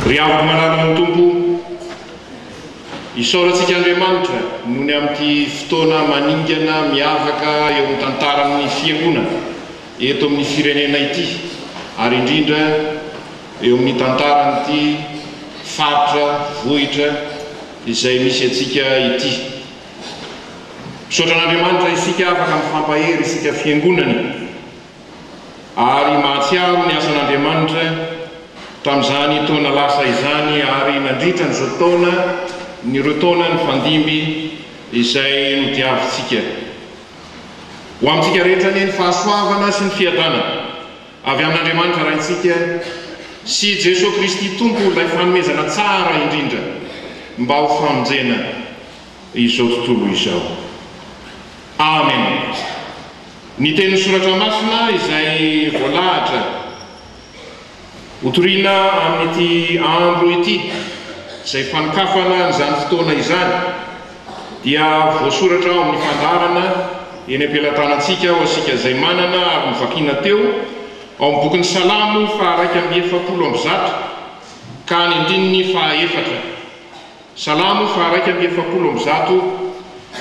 Ry avo mananan'ny Tompo o! Isaorantsika Andriamanitra nony amin'ity fotoana maningana miavaka eo amin'ny tantaran'ny Fiangonana eto amin'ny firenena ity ary indrindra eo amin'ny tantaran'ity faritra vohitra izay misy antsika ity. Misaotra an'Andriamanitra isika afaka mifampahery isika Fiangonana. ary mahatsiaro ny asan'Andriamanitra tamin'izany taona lasa izany ary nandritra an'izao taona ny ireo taona nifandimby izay nodiavintsika. Ho amintsika rehetra anie ny fahasoavana sy ny fiadanana avy amin'Andriamanitra Raintsika sy Jesoa Kristy Tompo ilay fanomezana tsara indrindra mba ho famonjena izao tontolo izao. Amen. Ny tenin'ny Soratra Masina izay voalahatra hotorina amin'ity andro ity, izay fanokafana an'izany fotoana izany, dia voasoratra ao amin'ny fandaharana eny am-pelatanantsika ho antsika izay manana ary novakiana teo ao amin'ny bokin'ny Salamo faha iraika amby efapolo amby zato ka any andininy faha efatra. Salamo faharaika amby efapolo amby zato,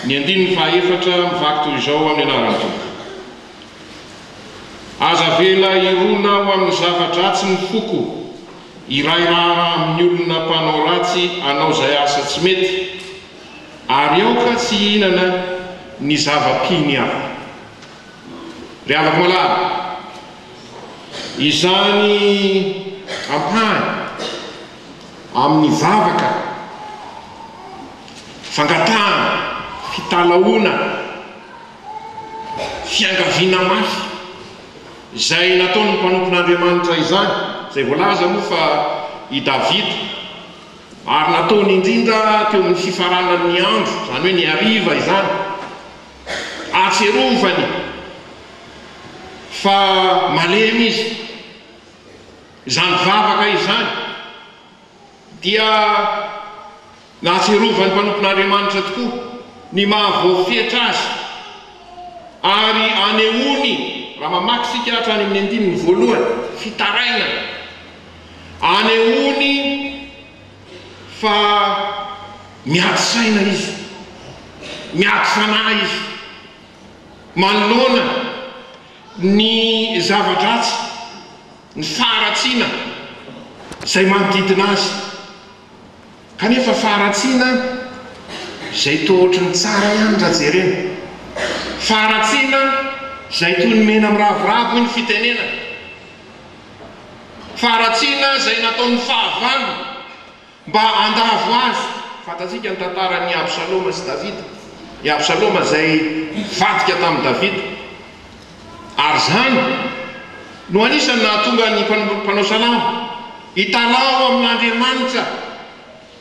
ny andininy fahaefatra, mivaky toy izao amin'ny anaran'ny Tompo. Aza avela hirona ho amin'ny zava-dratsy ny foko, iray raharaha amin'ny olona mpanao ratsy hanao izay asa tsy mety, ary aoka tsy hihinana ny zava-pihiny hafa. Ry havako malala, izany ampahany. amin'ny vavaka, fangatahana, fitalahoana, fiangaviana mafy, izay nataon'ny mpanompon'Andriamanitra izany, izay voalaza moa fa i Davida, ary nataony indrindra teo amin'ny fifaranan'ny andro, izany hoe ny hariva izany, hahatsiarovany fa malemy izy. Izany vavaka izany dia nahatsiarovan'ny mpanompon'Andriamanitra tokoa ny maha-voafetra azy ary anehoany, raha mamaky isika hatrany amin'ny andininy voalohany, fitarainana, anehoany fa miady saina izy, miady fanahy izy manoloana ny zava-dratsy. ny faharatsiana izay manodidina azy, kanefa faharatsiana izay toa ohatry ny tsara ihany raha jerena, faharatsiana izay toy ny mena miravoravo hoy ny fitenenana, faharatsiana izay nataon'ny fahavalo Mba handavo azy, fantatsika ny tantaran' i Absaloma sy Davida, i Absaloma izay nivadika tamin'i Davida, ary izany no anisan'ny nahatonga ny mpanao salamo hitalaho amin' Andriamanitra,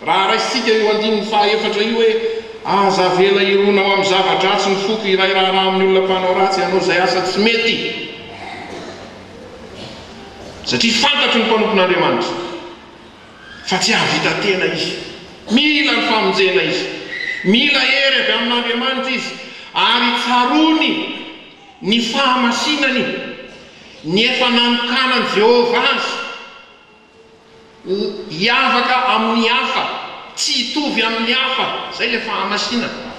raha raisintsika io andininy fahaefatra io hoe, Aza avela hirona ao amin'ny zava-dratsy ny foko iray raharaha amin'ny olona mpanao ratsy hanao izay asa tsy mety, satria fantatro ny mpanompon' Andriamanitra. fa tsy hahavita tena izy. Mila ny famonjena izy. Mila hery avy amin'Andriamanitra izy, ary tsaroany ny fahamasinany, ny efa nanokanan'i Jehovah azy hiavaka amin'ny hafa, tsy hitovy amin'ny hafa. Izay ilay fahamasinana.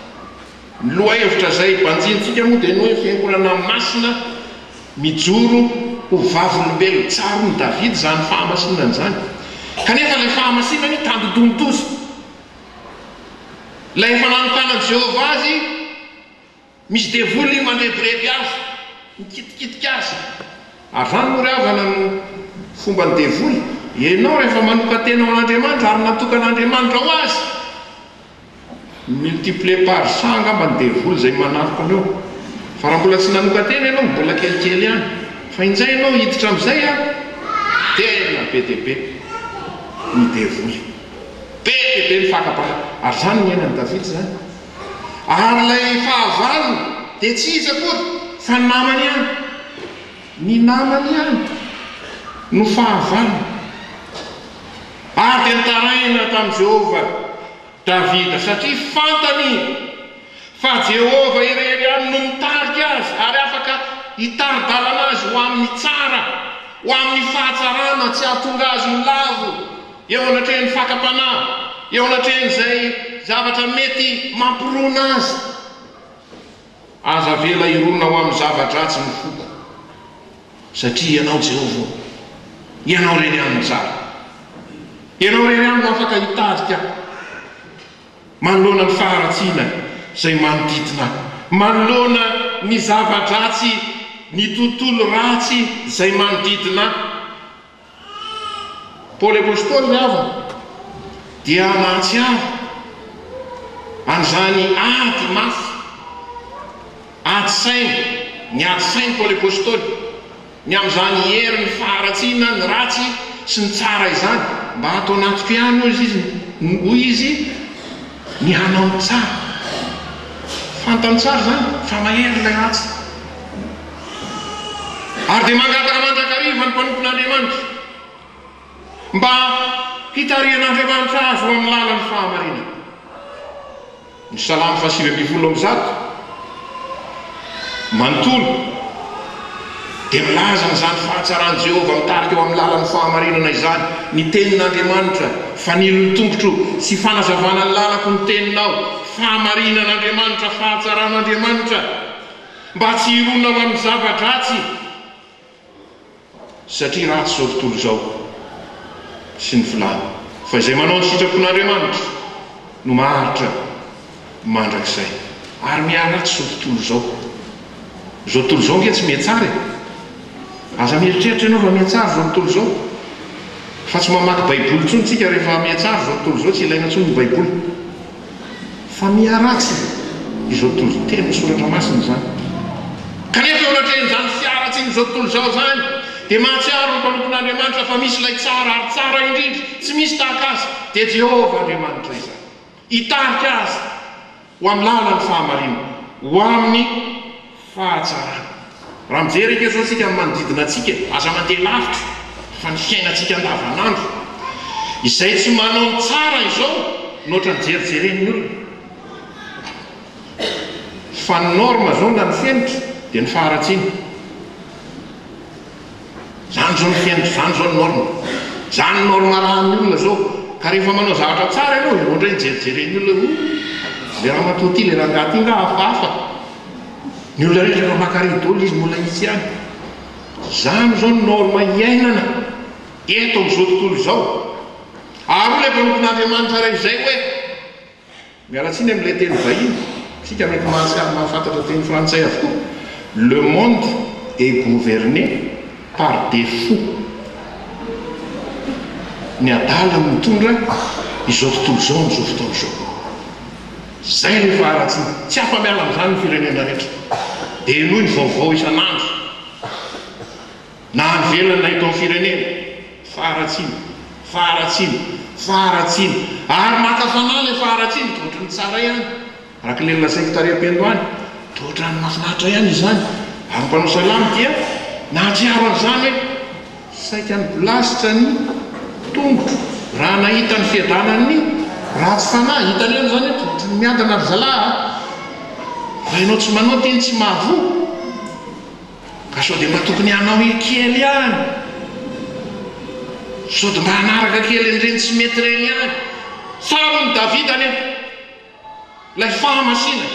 Ny lohahevitra izay banjinintsika moa dia ny hoe fiangonana masina mijoro ho vavolombelon'i Tsaron'i Davida izany fahamasinana izany. Kanefa ilay fahamasinana io tandindonin-doza. Ilay efa nanokanan'i Jehovah azy, misy devoly mandrebireby azy, mikitikitika azy. Ary izany moa ry havana no fomban'ny devoly. Ianao rehefa manokan-tena ho an'Andriamanitra ary natokan'Andriamanitra ho azy, Multipler par cent angamba ny devoly izay manafika anao. Fa raha mbola tsy nanokan-tena ianao, mbola kelikely ihany. Fa injay ianao hiditra amin'izay an! Tena be dia be ny devoly. Be dia be ny fakam-panahy. Ary izany no niainan'i Davida izany. Ary ilay fahavalony dia tsy iza akory fa namany ihany. Ny namany ihany no fahavalony. Ary dia nitaraina tamin'i Jehovah Davida, satria fantany izy fa Jehovah irery ihany no mitarika azy ary afaka hitari-dalana azy ho amin'ny tsara, ho amin'ny fahatsarana, tsy hahatonga azy ho lavo eo anatrehan'ny fakam-panahy, eo anatrehan'izay zavatra mety mampirona azy. Aza avela hirona ho amin'ny zava-dratsy ny foko, satria Ianao, Jehovah ô, Ianao irery ihany no tsara. Ianao irery ihany no afaka hitarika ahy manoloana ny faharatsiana izay manodidina ahy, manoloana ny zava-dratsy, ny tontolo ratsy izay manodidina ahy. Paoly Apostoly ny havany dia nahatsiaro an'izany ady mafy, ady saina, niady saina Paoly Apostoly ny amin'izany herin'ny faharatsiana ny ratsy sy ny tsara izany, mba ato anatiko ihany hoy izy, hoy izy, Ny hanao tsara. Fantany tsara izany fa mahery ilay ratsy. Ary dia mangataka mandrakariva ny mpanompon'Andriamanitra mba hitarihan'Andriamanitra azy ho amin'ny lalan'ny fahamarinana. Ny Salamo fahasivy ambin'ny folo amby zato. Manontolo dia milaza an'izany fahatsaran'i Jehovah mitarika eo amin'ny lalan'ny fahamarinana izany ny Tenin'Andriamanitra, Fanilon'ny tongotro sy fanazavana ny lalako ny teninao, fahamarinan'Andriamanitra, fahatsaran'Andriamanitra, mba tsy hirona ho amin'ny zava-dratsy. Satria ratsy izao tontolo izao sy ny filàny, fa izay manao ny sitrapon'Andriamanitra no maharitra mandrakizay. Ary miharatsy izao tontolo izao. Izao tontolo izao ange tsy mihatsara e! Aza mieritreritra ianao fa mihatsara izao tontolo izao. Fa tsy mamaky Baiboly intsony isika rehefa mihatsara izao tontolo izao, tsy ilaina intsony ny Baiboly. fa miharatsy izao toriteny soratra masina izany. Kanefa eo anatrehan'izany fiharatsian'izao tontolo izao izany, dia mahatsiaro ny mpanompon'Andriamanitra fa misy ilay tsara ary tsara indrindra, tsy misy tahaka azy, dia Jehovah Andriamanitra izany. Hitarika azy ho amin'ny lalan'ny fahamarinana, ho amin'ny. Fahatsarana. Raha mijery eto izao isika amin'ny manodidina antsika, aza mandeha lavitra fa ny fiainantsika andavanandro izay tsy manao ny tsara izao no ohatran'ny jerijeren'ny olona. Fa ny norme izao na ny fenitra dia ny faharatsiana. Zany zao ny fiainako zany zao ny norme. Zany ny norme arahan'ny olona zao. Ka rehefa manao zavatra tsara ianao dia vao indray hijerijeren'ny olona hoe oh! le ramatoa ty, le rangahy ty nga hafahafa. Ny olona rehetra efa maka ridole izy mbola itsy ihany. Zany zao ny norme iainana eto amin'izao tontolo izao. Ary hoy le mpanompon'Andriamanitra re izay hoe. Miala tsiny amin'ilay teny vahiny, isika mety mahatsiaro ny mahafantatra teny frantsay avokoa, Le monde est gouverné par des fous, ny adala no mitondra izao tontolo izao amin'izao fotoana izao. Izay ilay faharatsiana, tsy afa-miala amin'izany ny firenena rehetra, dia henoy ny vaovao isan'andro. Na havelona eto amin'ny firenena, faharatsiana, faharatsiana, faharatsiana, ary maka fanahy ilay faharatsiana, toa ohatran'ny tsara ihany, araka ilay nolazaiko tary am-pendo any, toa ohatran'ny mahafinaritra ihany izany, ary ny mpanao salamo dia nahatsiaro an'izany hoe, Saika nibilasitra ny tongotro raha nahita ny fiadanan'ny ratsy fanahy. Hitanareo izany hoe toa ohatran'ny miadana ry zalahy a! Fa ianao tsy manao teny tsy mahavoa. Ka sao dia mba tokony hanao i kely ihany? Sao dia mba hanaraka kely an'ireny tsy mety ireny ihany? Tsaron'i Davida anefa ilay fahamasinana,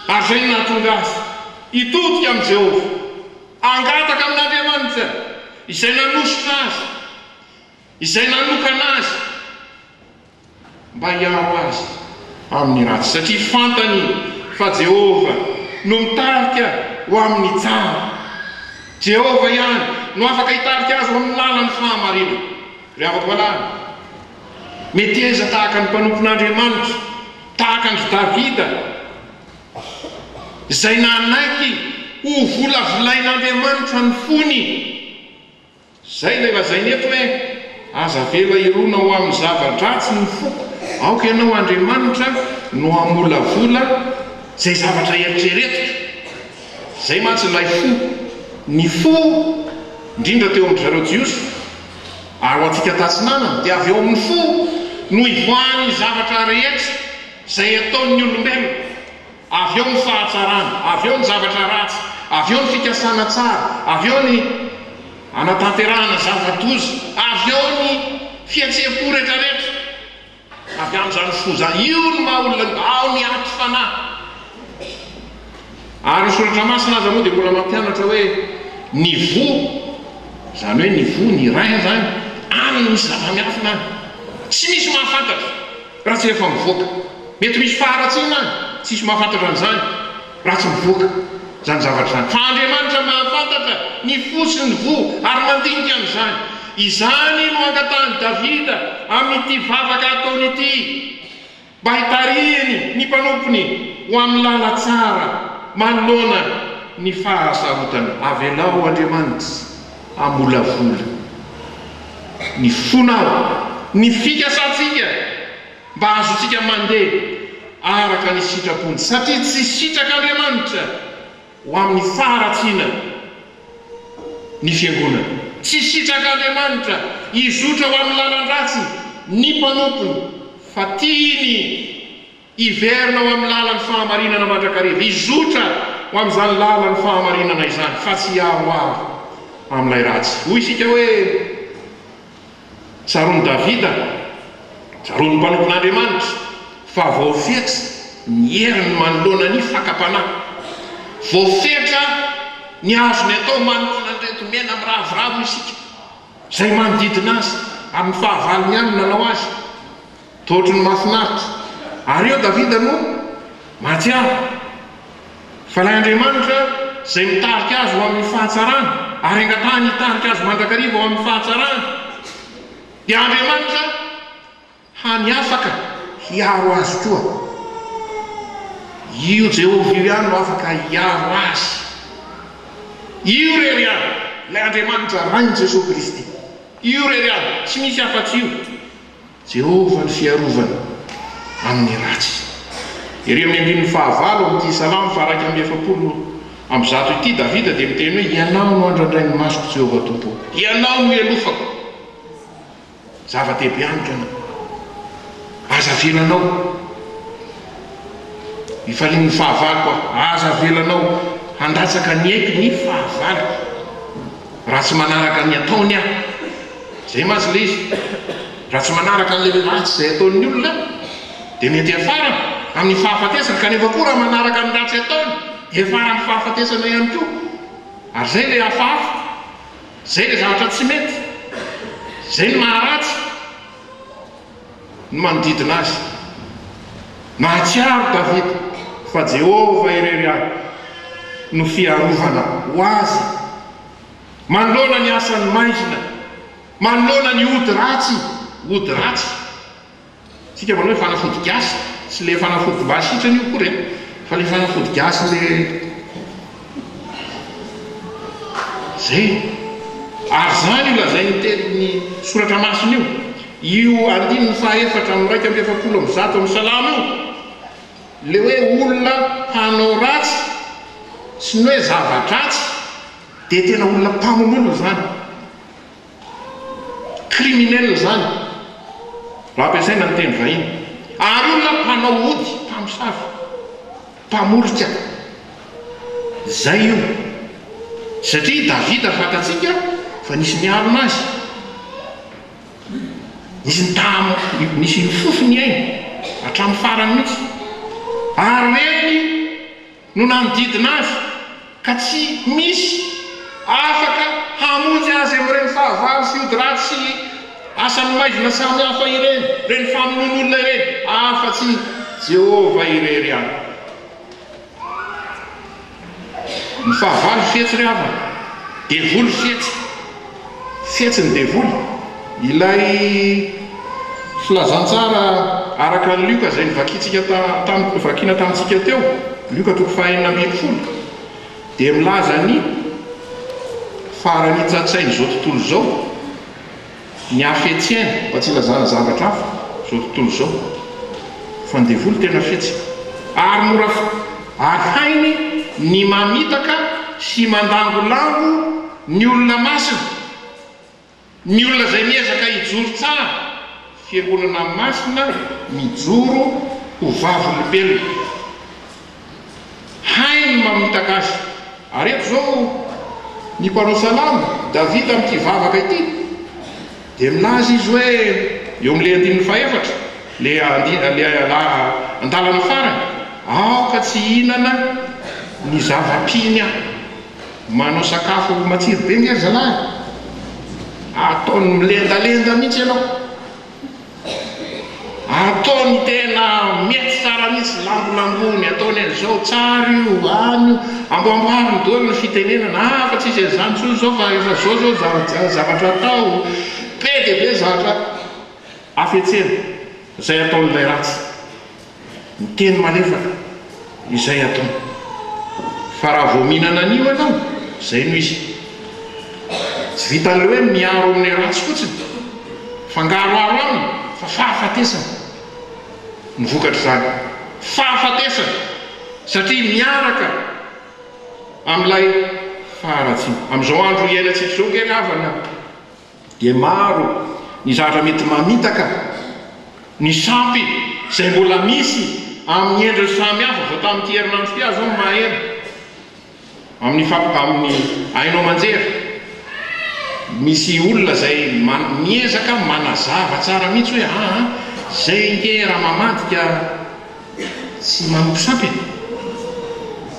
ary izay no nahatonga azy hitodika amin'i Jehovah, hangataka amin'Andriamanitra izay nanosika azy, izay nanokana azy. mba hiaro azy amin'ny ratsy, satria fantany fa Jehovah no mitarika ho amin'ny tsara. Jehovah ihany no afaka hitarika azy ho amin'ny lalan'ny fahamarinana. Ry havako malala, meteza tahaka ny mpanompon'Andriamanitra, tahaka an-dry Davida, izay nanaiky hovolavolain'Andriamanitra ny fony. Zay ilay lazainy eto hoe aza avela hirona ho amin'ny zava-dratsy ny foko, aoka ianao Andriamanitra no hamolavola izay zavatra eritreretiko. Izay mantsy ilay fo, ny fo indrindra teo amin-dry zareo Jiosy ary ho antsika tatsinanana dia avy ao amin'ny fo no ivoahan'ny zavatra rehetra izay ataon'ny olombelona. Avy eo ny fahatsarana, avy eo ny zavatra ratsy, avy eo ny fikasana tsara, avy eo ny hanatanterahana zava-doza, avy eo ny fihetseham-po rehetrarehetra. Avy amin'izany foza io ny maha olona io, ao ny aty fanahy. Ary ny Soratra Masina aza moa dia mbola mampianatra hoe ny voa, izany hoe ny voa, ny rein izany, any no misy zava-miafina any. Tsy misy mahafantatra. Raha tsy efa mivoaka. Mety misy faharatsiana any, tsisy mahafantatra an'izany raha tsy mivoaka izany zavatra izany. Fa Andriamanitra mahafantatra ny fo sy ny voa ary mandinika an'izany. Izany no angatahan'i Davida amin'ity vavaka ataony ity, mba hitarihiny ny mpanompony ho amin'ny lala tsara manoloana ny fahasarotana. Avelao Andriamanitra. hamolavola ny fona aho, ny fikasantsika mba hahazoantsika mandeha araka ny sitrapony, satria tsy sitrak'Andriamanitra ho amin'ny faharatsiana ny fiangonany, tsy sitrak'Andriamanitra hizotra ho amin'ny lalan-dratsy ny mpanompony, fa tiany. Hiverina ho amin'ny lalan'ny fahamarinana mandrakariva, hizotra ho amin'izany lalan'ny fahamarinana izany, fa tsy hiaroaro amin'ilay ratsy. Hoy isika hoe, Tsaroan'i Davida, tsaroan'ny mpanompon'Andriamanitra, fa voafetra ny heriny manoloana ny fakam-panahy. Voafetra ny azony atao manoloana an'ireto mena miravoravo isika, izay manodidina azy, ary ny fahavalony ihany no nanao azy. Toa ohatry ny mahafinaritra. Ary eo Davida no mahatsiaro fa ilay Andriamanitra izay mitarika azy ho amin'ny fahatsarana, ary angatahany hitarika azy mandrakariva ho amin'ny fahatsarana, dia Andriamanitra hany afaka hiaro azy koa. Io Jehovah io ihany no afaka hiaro azy. Io irery ihany, ilay Andriamanitra Rain'i Jesoa Kristy. Io irery ihany, tsy misy afa-tsy io. Jehovah ny fiarovana amin'ny ratsy. Ery amin'ny andininy fahavalo amin'ity Salamo faharaika amby efapolo amby zato ity, Davida dia miteny hoe, Ianao no andrandrain' ny masoko, Jehovah Tompoko. Ianao no ialofako. Zava-dehibe amiko Ianao. Aza avelanao hifalian'ny fahavaloko aho. Aza avelanao handatsaka ny aiko ny fahavaloko, raha tsy manaraka ny ataony aho. Izay mantsy ilay izy, raha tsy manaraka an'ilay ratsy izay ataon'ny olona dia mety hiafarana amin'ny fahafatesana, kanefa koa raha manaraka ny ratsy ataony dia hiafara amin'ny fahafatesana ihany koa. Ary izay ilay hafahafa, izay ilay zavatra tsy mety, izay ny maharatsy ny manodidina azy. Nahatsiaro Davida fa Jehovah irery ihany no fiarovana ho azy. Manoloana ny asan'ny maizina, manoloana ny ody ratsy, ody ratsy, isika manao hoe fanafody gasy, tsy ilay fanafody mba hasitrana io akory an, fa ilay fanafody gasy le zay, ary izany io lazain'ny tenin'ny soratra masina io, io andininy faha efatra amby iraika amby efapolo amby zato amin'ny salamo io, ilay hoe olona mpanao ratsy sy ny hoe zava-dratsy, Dia tena olona mpamono olona izany. Criminel izany, raha ampiasaina ny teny vahiny. Ary olona mpanao ody, mpamosavy, mpamorika. Izay io. Satria i Davida fantatsika fa nisy niarina azy. Nisy nitaha, nisy nifofo ny ainy, hatramin'ny farany mihitsy. Ary reny. no nanodidina azy ka tsy misy afaka hamonjy azy amin'ireny fahavalo sy ody ratsy sy asan'ny maizina samihafa ireny, ireny famonoan'olona ireny, afa-tsy i Jehovah irery ihany. Ny fahavalo fetsy ry havana, devoly fetsy. Fihetsy ny devoly, ilay. Filazantsara araka an'i Lioka izay novakintsika tamin-, novakiana tamintsika teo, Lioka toko fahenina ambin'ny folo, dia milaza ny faran'ny tsatsain'izao tontolo izao, ny hafetseny, mba tsy hilazana zavatra hafa, izao tontolo izao, fa ny devoly tena fetsy, ary mora, ary hainy ny mamitaka sy mandangolango, Ny olona masina, ny olona izay miezaka hijoro tsara, fiangonana masina mijoro ho vavolombelona, hainy ny mamitaka azy. Ary eto izao ny mpanao salamo, Davida amin'ity vavaka ity dia milaza izy hoe, eo amin'ilay andininy fahefatra, ilay andalana farany, Aoka tsy hihinana ny zava-piny aho. Manao sakafo matsiro be nge ry zalahy e! Ataony milendalenda mihitsy ianao. Ataony tena mety tsara mihitsy, lambonambony, ataony an'izao, tsara io, any io. Amboamboariny daholo ny fitenenana, ah fa tsisy an'izany intsony izao fa efa izao izao ny zavatra atao. Be dia be ny zavatra hafetsena izay ataon'ilay ratsy. Ny teny malefaka, izay atao. Fa raha vao mihinana an'io ianao, izay no izy. Tsy vitan'ilay hoe miaro amin'ny ratsy fotsiny, fangaroharo aminy fa fahafatesana no vokatr'izany. Fahafatesana, satria miaraka amin'ilay faharatsiana. Amin'izao andro iainantsika izao, kely havana. dia maro ny zavatra mety mamitaka ny sampy izay mbola misy amin'ny endriny samy hafa vao tamin'ity herinandro ity aza aho no maheno amin'ny famp amin'ny haino aman-jery misy olona izay miezaka manazava tsara mihitsy hoe aa izay nge raha mamadika tsy manopy sampy e!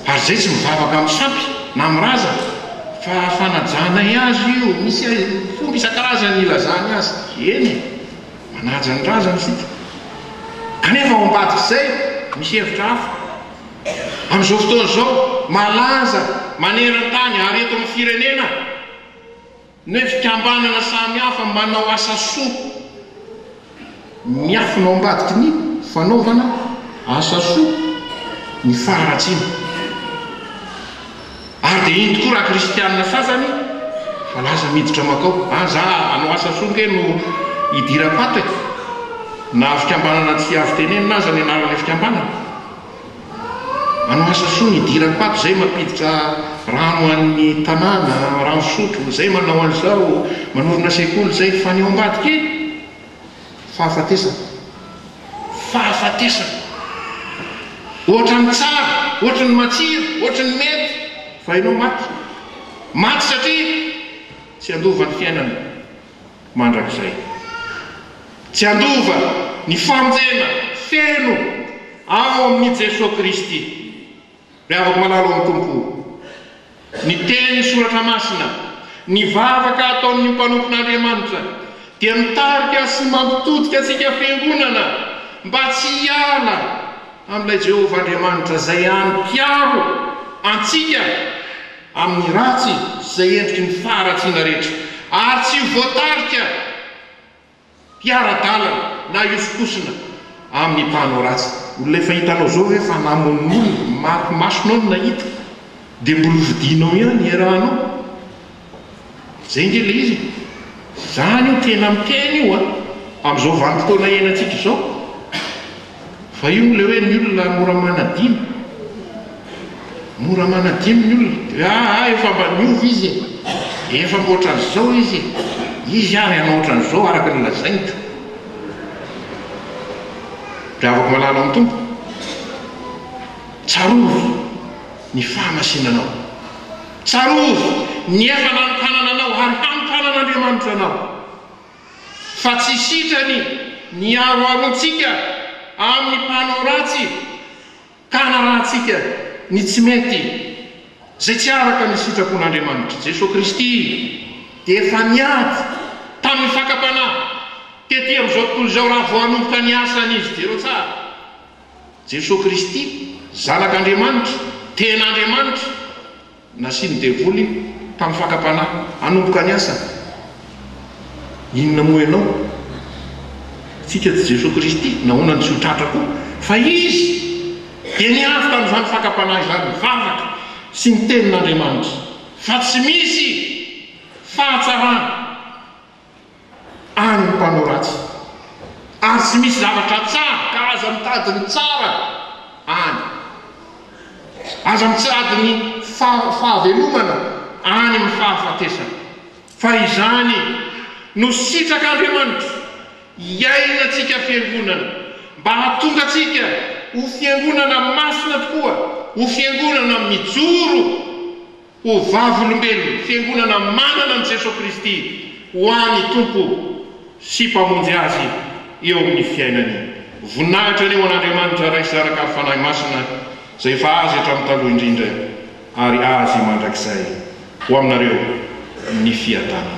ary izay tsy mivavaka amin'ny sampy na amin'ny razana fa fanajanay azy io, misy fomba isan-karazany ilazany azy, eny e! manaja ny razana isika, kanefa ao ambadik'izay misy hevitra hafa, amin'izao fotoana izao malaza maneran-tany ary eto amin'ny firenena, Ny fikambanana samihafa manao asa soa. Miafina ao ambadiky ny fanaovana asa soa ny faharatsiana. Ary dia iny tokoa raha kristiana sasany fa lasa miditra makao. An za hanao asa soa nge no hidiram-pato e! Na fikambanana tsy azo tenenina aza ny anaran'ilay fikambanana. Manao asa soa ny diram-paty zay mampiditra rano ho an'ny tanàna, rano fisotro, zay manao an'izao, manorina sekoly zay, fa ny ao ambadika e! Fahafatesana! Fahafatesana! Ohatra ny tsara, ohatra ny matsiro, ohatra ny mety, fa ianao maty! Maty satria tsy handova ny fiainana, mandrakizay. Tsy handova ny fanjena feno ao amin'i Jesoa Kristy. Ry havako malala ao amin'ny Tompo o, ny tenin'ny Soratra Masina, ny vavaka ataon'ny mpanompon'Andriamanitra dia mitarika sy mampitodika antsika fiangonana mba tsy hiala amin'ilay Jehovah Andriamanitra izay any mpiaro antsika. amin'ny ratsy sy izay endriky ny faharatsiana rehetra, ary tsy ho voatarika hiara-dalana na hihosokosona amin'ny mpanao ratsy. Olona efa hitanao izao ve fa namono olona, mariky masonao no nahita, dia mbola hofidianao ihany hiarahanao? Izay nge le izy e! Zany io tena miteny io a! Amzao vanimpotoana iainan-tsika izao fa io le hoe ny olona mora manadino, mora manadino ny olona de hoe aa efa mba niova izy e! Efa mba otran'zao izy e! Izy ary hanao otran'zao araka ny lazainy ka! Mpihavako malala ny Tompo, tsarovy ny fahamasinanao. Tsarovy ny efa nanokanana anao ary hanokanana Andriamanitra anao, fa tsy sitrany ny aroarontsika amin'ny mpanao ratsy ka hanarahantsika ny tsy mety izay tsy araka ny sitrapon'Andriamanitra. Jesoa Kristy dia efa niady tamin'ny fakam-panahy tety amin'izao tontolo izao raha vao hanomboka ny asany Izy. Jereo tsara Jesoa Kristy, Zanak'Andriamanitra, tena Andriamanitra, nasian'ny devoly tamin'ny fakam-panahy hanomboka ny asany. Inona moa ianao? Tsika tsy Jesoa Kristy, nahoana no tsy ho tratra koa? Fa Izy dia niavy tamin'izany fakam-panahy izany, nivavaka sy niteny n'Andriamanitra fa tsy misy fahatsarana. ary ny mpanao ratsy. Ary tsy misy zavatra tsara, ka aza mitady ny tsara any. Aza mitsirady ny fahavelomana any amin'ny fahafatesana, fa izany no sitrak'Andriamanitra, hiainantsika fiangonana, mba hahatonga antsika ho fiangonana masina tokoa, ho fiangonana mijoro Ho vavolombelon'ny Fiangonana manana an'i Jesoa Kristy ho any Tompo sy Mpamonjy azy eo amin'ny fiainany. Voninahitra anie ho an'Andriamanitra Ray sy Zanaka ary Fanahy Masina izay efa Azy hatramin'ny taloha indrindra ary Azy mandrakizay. Ho aminareo ny fiadanana.